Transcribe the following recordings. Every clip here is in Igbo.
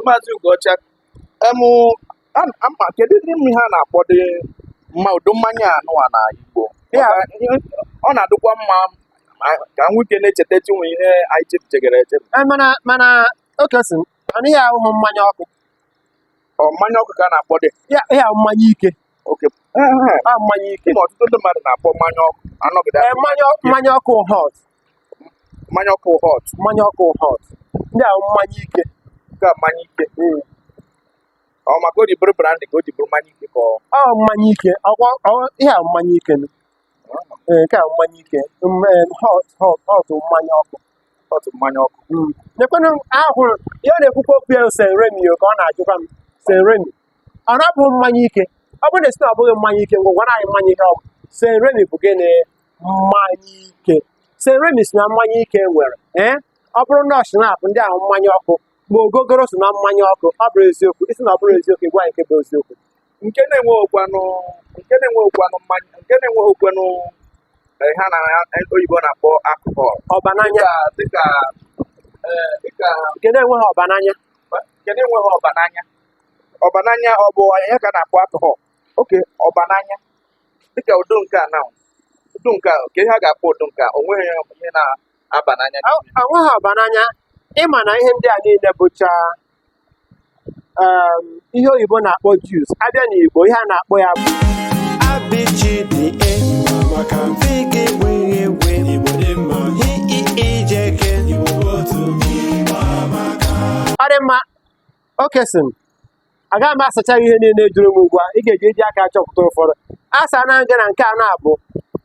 maazị Ugocha emụ ama kedudị ihe a na-akpọdị mma ụdị mmanya anụwa na Igbo ọ na-adịkwa mma ka nwoke na-echeta chinwe ihe anyị chefuchagara echefu eh, mana mana Oke sị m na ihe ahụ bụ mmanya ọkụ ọ mmanya ọkụ ka a na-akpọdị ihe ahụ mmanya ike a mmanya ike ma ọtụtụ ndị mmadụ na-akpọ mmanya ọkụ anọgide eh, mmanya ọkụ hot mmanya ọkụ hot mmanya ọkụ hot ndị ahụ mmanya ike ka mmanya ike hmm. ọ maka o ji bụrụ brandy ka o ji bụrụ mmanya ike ka ọ mmanya ike ihe a mmanya ike eh, nke a mmanya ike eh, hot hot hot mmanya ọkụ hot mmanya ọkụ hmm. nekwenụ ahụrụ ihe na-ekwukwa okwu ya Saint Remy ka ọ na-ajụkwa m Saint Remy ọ na-abụ mmanya ike ọ bụrụ na ị sị na ọ bụghị mmanya ike ngwa gwanụ anyị mmanya ihe ọ bụ Saint Remy bụ gịnị mmanya ike Saint Remy so na mmanya ike nwere ee ọ bụrụ na ọ Schnapp ndị ahụ mmanya ọkụ ma ogogoro so na mmanya ọkụ ọ bụrọ eziokwu ị sị na ọ bụrọ eziokwu ị gwa anyị nke bụ eziokwu nke na-enweghịkwanụ nke na-enweghịkwanụ mmanya nke na-enweghịkwanụ eh, ihe ndị oyibo na-akpọ alcohol ọba n'anya dịka dịka eh, dịka nke na-enweghị ọba n'anya nke na-enweghị ọba n'anya ọbananya ọ bụ ya ka a na-akpọ alcohol okay ọbananya dịka ụdị nke a na ụdị nke a kee ihe a ga-akpọ ụdị nke a o nweghị ihe na-aba n'anya o nweghị ọbananya ị ma na ihe ndị a niile bụcha um, ihe oyibo na-akpọ juice a bịa n'Igbo ihe a na-akpọ ya bụ abịjide maka mfe gị wee wee ijeke ọ dị mma oke sị m agaghị m asacha ihe niile ị jụrụ m ugbu a ị ga-eji eji aka chọpụta ụfọdụ asaana m gị na nke a na-abụ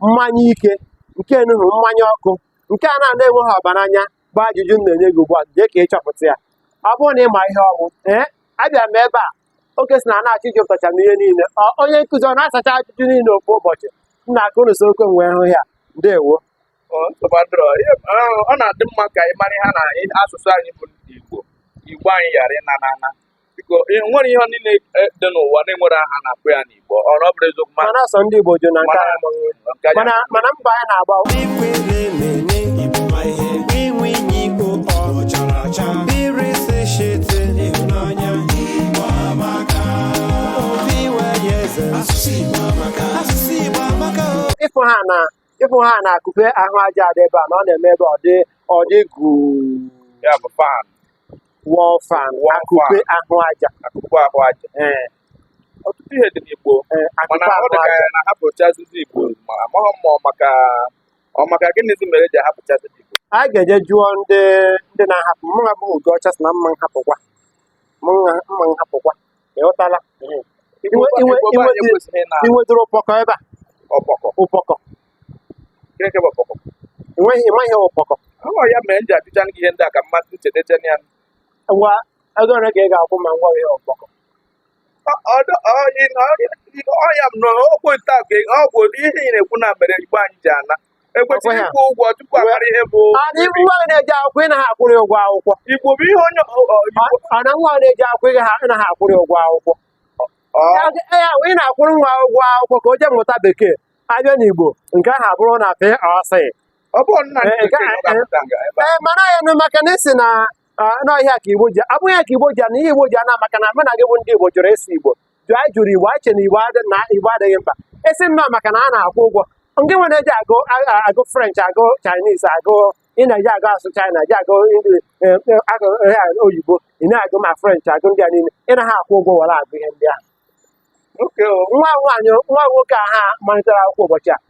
mmanya ike nke enuhu mmanya ọkụ nke a na-ana enweghị ọbananya bụ ajụjụ m na-enye gị ugbu a jee ka ị chọpụta ya ọ bụrụ na ị ma ihe ọ wụ ee abịa m ebe a oke si na na-achọ ịjụtacha m ihe niile onye nkụzi ọ na-asacha ajụjụ niile ofu ụbọchị m na-aka unu so okwe wee hụ ya ndewo ọ na-adị mma ka ị mara ha na asụsụ anyị bụ Igbo Igbo anyị ghara ịna na ana biko nwere ihe niile e, dị n'ụwa na-enwere aha a na-akpọ ya n'Igbo ọ ọ bụrụ eziokwu mana asọ ndị Igbo jụ na nke mana mana mbọ anyị na-agba ịfụ ha na ịfụ ha na akụpe ahụ aja adị ebe a na ọ na-eme ebe ọ dị ọ dị jụụ ya bụ fan wall fan Wall akụpe fan. ahụ aja akụkụ ahụ aja ee ọtụtụ ihe dị n'igbo ee mana akụpe ọ ahụ dị ka aja ya na-ahapụchazizi igbo ma amaghị m ma ọ maka ọ maka gịnịzi mere eji ahapụchazi igbo a ga-eje jụọ ndị ndị na-ahapụ mụ a bụ Ugo ọcha sị na m ma nhapụkwa m ma m ma nhapụkwa ịghọtala Iwe- iwe- Igbo be anyị iwe- ekwesịghị na inwedịrị ụpọkọ ebe a ọkpọkọ ụpọkọ Chineke bụ ọkpọkọ enweghị ịmaghị ihe ụpọkọ ọ ya mere m ji ajụcha gị ihe ndị a ka mmadụ nchetecha ya ngwa ego ole ka ị ga-akwụ ma m gwa ihe ụpọkọ ọ ya m na-ekwu nta ka ọ bụ ihe ị na-ekwu na mere igbo anyị ji ana ekwesịrị ịkwụ ụgwọ tupu a mara ihe bụ adị ibu nwa na-eje akwụkwọ ịnaghị akwụrụ ụgwọ akwụkwọ igbo bụ ihe onye ọ na nwa na-eje akwụkwọ ịnaghị akwụrụ ụgwọ akwụkwọ ya ị na-akwụrụ nwa ụgwọ akwụkwọ ka o jee mụta bekee a bịa n'igbo nke ahụ abụrụ na free ọ sị ee mana ya nụ maka na ị sị na ọ ihe a ka igbo ji ọ bụghị ya ka igbo ji ana ihe igbo ji ana maka na mụ na gị bụ ndị igbo jụrụ ịsụ igbo jụ anyị jụrụ igbo anyị che na igbo adị- na igbo adịghị mkpa esi nnọọ maka na a na-akwụ ụgwọ ndị nwere eji agụ a- a- agụ french agụ chinese agụ ị na-eje agụ asụ china je agụ Indi- eh, eh, agụ eh, ah, oyibo ị na-agụ ma french agụ ndị a niile ị naghị akwụ ụgwọ were agụ ihe ndị ahụ nwa nwaanyị nwa nwoke a ha malitere akwụkwọ ụbọchị a